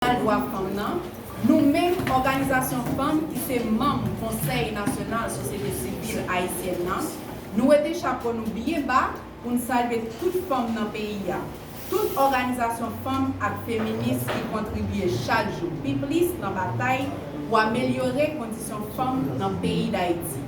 Nasyonal Dwa Fanm nan, nou menm òganizasyon fanm ki se manm Konsèy Nasyonal Sosyete Sivil Ayisyèn nan, nou wete chapo nou byen ba pou n salye tout fanm nan peyi a, tout òganizasyon fanm ak feminis ki kontribye chak jou pi plis nan batay pou amelyore kondisyon fanm nan peyi Dayiti.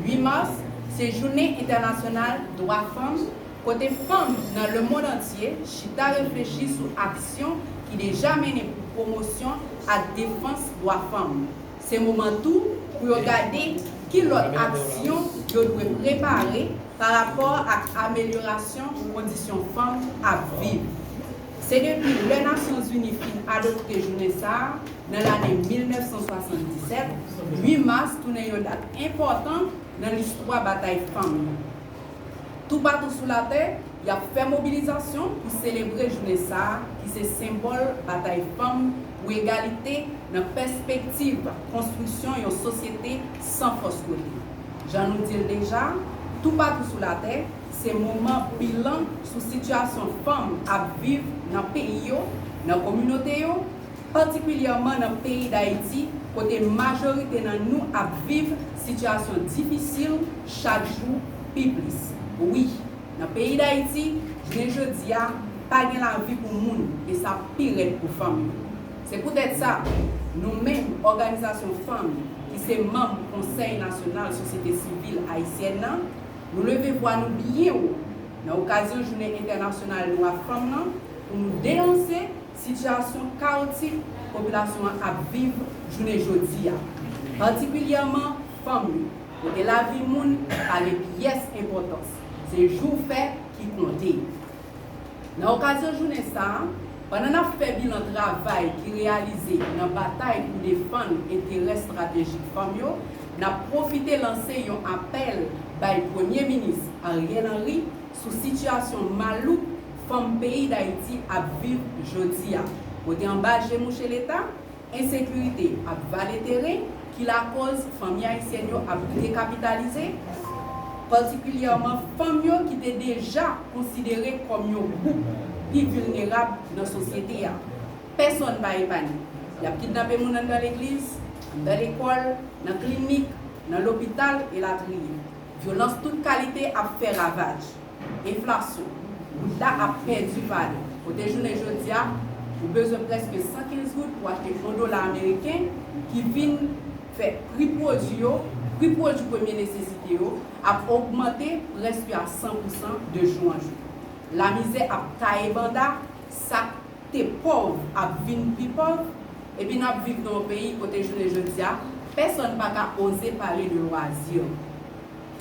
8 mas se Jounen Entènasyonal Dwa Fanm. kote fanm nan lemond antye chita reflechi sou aksyon ki deja mennen pou pwomosyon ak defans dwa fanm. Se moman tou pou yo gade ki lòt aksyon yo dwe prepare pa rapò ak amelyorasyon kondisyon fanm ap viv. Se depi lè Nasyonzini fin adopte jounen sa a nan lane 1977, 8 mas tounen yon dat enpòtan nan listwa batay fanm yo. Toupatou sou latè, y ap fè mobilizasyon pou selebre jounen sa a ki se senbòl batay fanm pou egalite nan pèspektiv konstriksyon yon sosyete san fòs kote. Jan nou di l deja, Toupatou sou latè se moman bilan sou sitiyasyon fanm ap viv nan peyi yo, nan kominote yo, patikilyèman nan peyi Dayiti kote majorite nan nou ap viv sitiyasyon difisil chak jou pi plis. Wi, nan peyi Dayiti, jounen jodi a, pa gen lavi pou moun e sa pi rèd pou fanm yo. Se poutèt sa, nou menm òganizasyon fanm ki se manm Konsèy Nasyonal Sosyete Sivil Ayisyèn nan, nou leve vwa nou byen wo nan okazyon Jounen Entènasyonal Dwa Fanm lan pou nou denonse, sitiyasyon kawotik popilasyon an ap viv jounen jodi a, patikilyèman fanm yo, kote lavi moun pa gen pyès enpòtans, se jou w fè ki konte. Nan okazyon jounen sa a, pandan n ap fè bilan travay ki reyalize nan batay pou defann enterè estratejik fanm yo, n ap pwofite lanse yon apèl bay Premye Minis Ariel Henry sou sitiyasyon malouk fanm peyi Dayiti ap viv jodi a, kote anba je mouche Leta, ensekirite ap vale teren ki lakoz fanmi ayisyèn yo ap vite kapitalize, patikilyèman fanm yo ki te deja konsidere kòm yon gwoup pi vilnerab nan sosyete a. Pèsonn pa epanye. Y ap kidnape moun anndan legliz, anndan lekòl, nan klinik, nan lopital, elatriye. Vyolans tout kalite ap fè ravaj. Enflasyon, Goud la ap pèdi valè. Kote jounen jodi a, ou bezwen prèske 115 goud pou achte yon dola ameriken ki vin fè pri pwodui yo, pri pwodui premye nesesite yo, ap ogmante prèske a 100 pousan de jou an jou. Lamizè ap taye banda, sa k te pòv ap vin pi pòv, epi n ap viv nan yon peyi kote jounen jodi a, pèsòn pa ka oze pale de lwazi.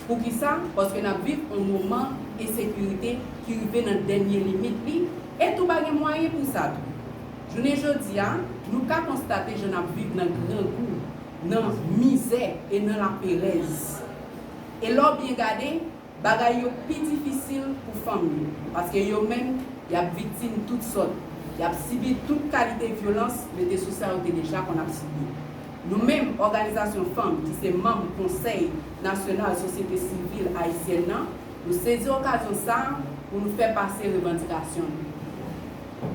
Poukisa? Paske n ap viv yon moman ensekirite ki rive nan dènye limit li, e tou pa gen mwayen pou sa tou. Jounen jodi a, nou ka konstate jan n ap viv nan grangou, nan mizè e nan laperèz. E lè w byen gade, bagay yo pi difisil pou fanm yo, paske yo menm, y ap viktim tout sòt, y ap sibi tout kalite vyolans mete sou sa yo te deja konn ap sibi. Nou menm, òganizasyon fanm ki se manm Konsèy Nasyonal Sosyete Sivil Ayisyèn nan, nou sezi okazyon sa a pou nou fè pase revandikasyon nou.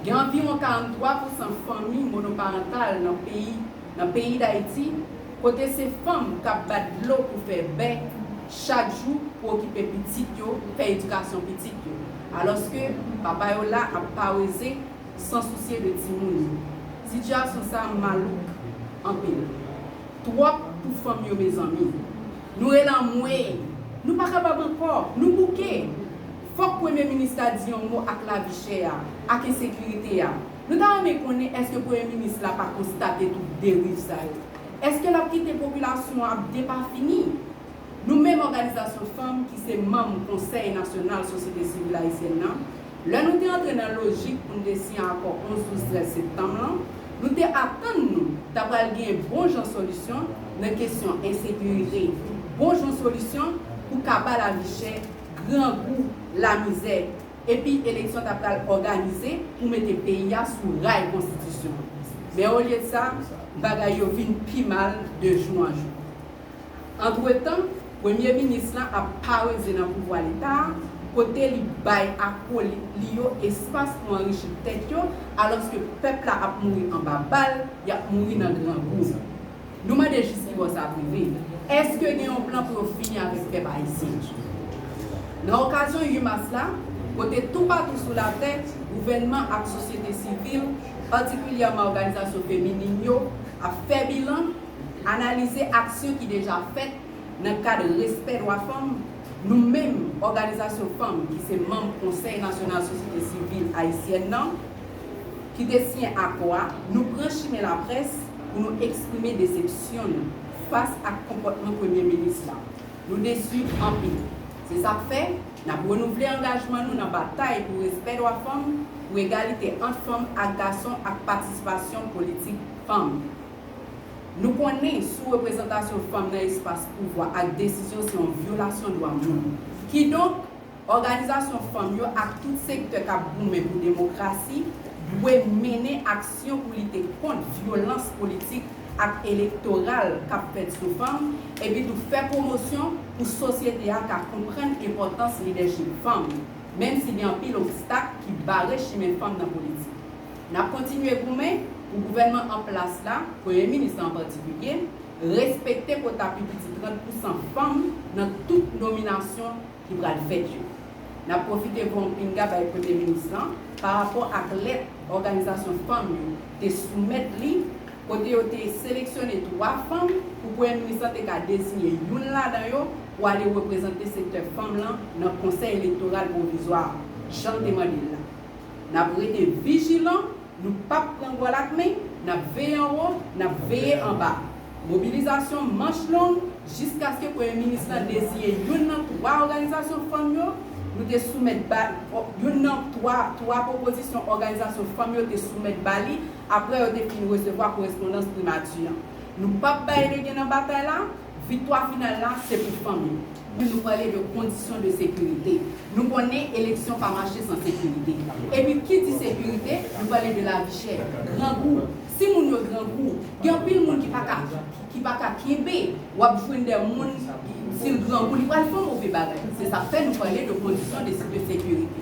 Gen anviwon 43 pou san fanmi monoparantal nan peyi nan peyi Dayiti kote se fanm k ap bat dlo pou fè bè chak jou pou okipe pitit yo, fè edikasyon pitit yo. Alòske papa yo la ap paweze. san sousye de timoun yo. Sitiyasyon sa malouk anpil. Twòp pou fanm yo mezanmi. Nou rele anmweyy! Nou pa kapab ankò! Nou bouke! Fòk premye minis la di yon mo ak lavi chè a, ak ensekirite a. Nou ta renmen konnen èske premye minis la pa konstate tout deriv sa yo? Èske l ap kite popilasyon an ap depafini? Nou menm òganizasyon fanm ki se manm Konsèy Nasyonal Sosyete Sivil Ayisyèn nan, lè nou te antre nan lojik pou n te siyen akò 11 12 13 septanm lan, nou te atann nou ta pral gen bon jan solisyon nan kesyon ensekirite, bon jan solisyon pou kaba lavichè, grangou, lamizè, epi eleksyon ta pral òganize pou mete peyi a sou ray konstitisyon. Men olye de sa, bagay yo vin pi mal de jou an jou. Antretan, premye minis lan ap pareze nan pouvwa leta a, kote li bay akolit li yo espas pou anrichi tèt yo, alòske pèp la ap mouri anba bal, y ap mouri nan grangou. Nou mande jiskibò sa ap rive? Èske gen yon plan pou yo fini avèk pèp ayisyen? Nan okazyon 8 mas la, kote toupatou sou latè, gouvènman ak sosyete sivil, patikilyèman òganizasyon feminin yo, ap fè bilan, Analize aksyon ki deja fèt nan kad respè dwa fanm, nou menm òganizasyon fanm ki se manm Konsèy Nasyonal Sosyete Sivil Ayisyèn nan, ki te siyen akò a, nou pran chimen laprès pou nou eksprime desepsyon nou fas ak konpòtman Premye Minis la. Nou desu anpil. Se sa k fè, n ap renouvle angajman nou nan batay pou respè dwa fanm, pou egalite ant fanm ak gason ak patisipasyon politik fanm. Nou konnen sou-reprezantasyon fanm nan espas pouvwa ak desizyon se yon vyolasyon dwa moun. Kidonk, òganizasyon fanm yo ak tout sektè k ap goumen pou demokrasi dwe mennen aksyon pou lite kont vyolans politik ak elektoral k ap fèt sou fanm, epitou fè pwomosyon pou sosyete a ka konprann enpòtans lidèchip fanm, menm si gen anpil obstak ki bare chimen fanm nan politik. N ap kontinye goumen pou gouvènman an plas la, Premye Minis la an patikilye, respekte kota pi piti 30 pousan fanm nan tout nominasyon ki pral fèt yo. N ap pwofite voye yon pinga bay Premye Minis la parapò ak lèt òganizasyon fanm yo te soumèt li kote yo te seleksyone 3 fanm pou Premye Minis la te ka dezinye youn ladan yo pou ale reprezante sektè fanm lan nan Konsèy Elektoral Pwovizwa a, jan l te mande l la. N ap rete vijilan, nou pap pran gòl ak men, n ap veye anwo, n ap veye anba. Mobilizasyon manch long jiskaske Premye Minis lan deziye youn nan twa òganizasyon fanm yo, nou te soumèt ba youn nan twa twa pwopozisyon òganizasyon fanm yo te soumèt ba li apre yo te fin resevwa korespondans Primati an. Nou pap bay legen nan batay la. Viktwa final la se pou fanm yo. Wi nou pale de kondisyon de sekirite. Nou konnen eleksyon pa mache san sekirite. Epi ki di sekirite, nou pale de lavi chè, grangou. Si moun yo grangou, gen anpil moun ki pa ka ki pa ka kenbe. W ap jwenn de moun, si l grangou, li pral fè move bagay. Se sa k fè nou pale de kondisyon de de sekirite.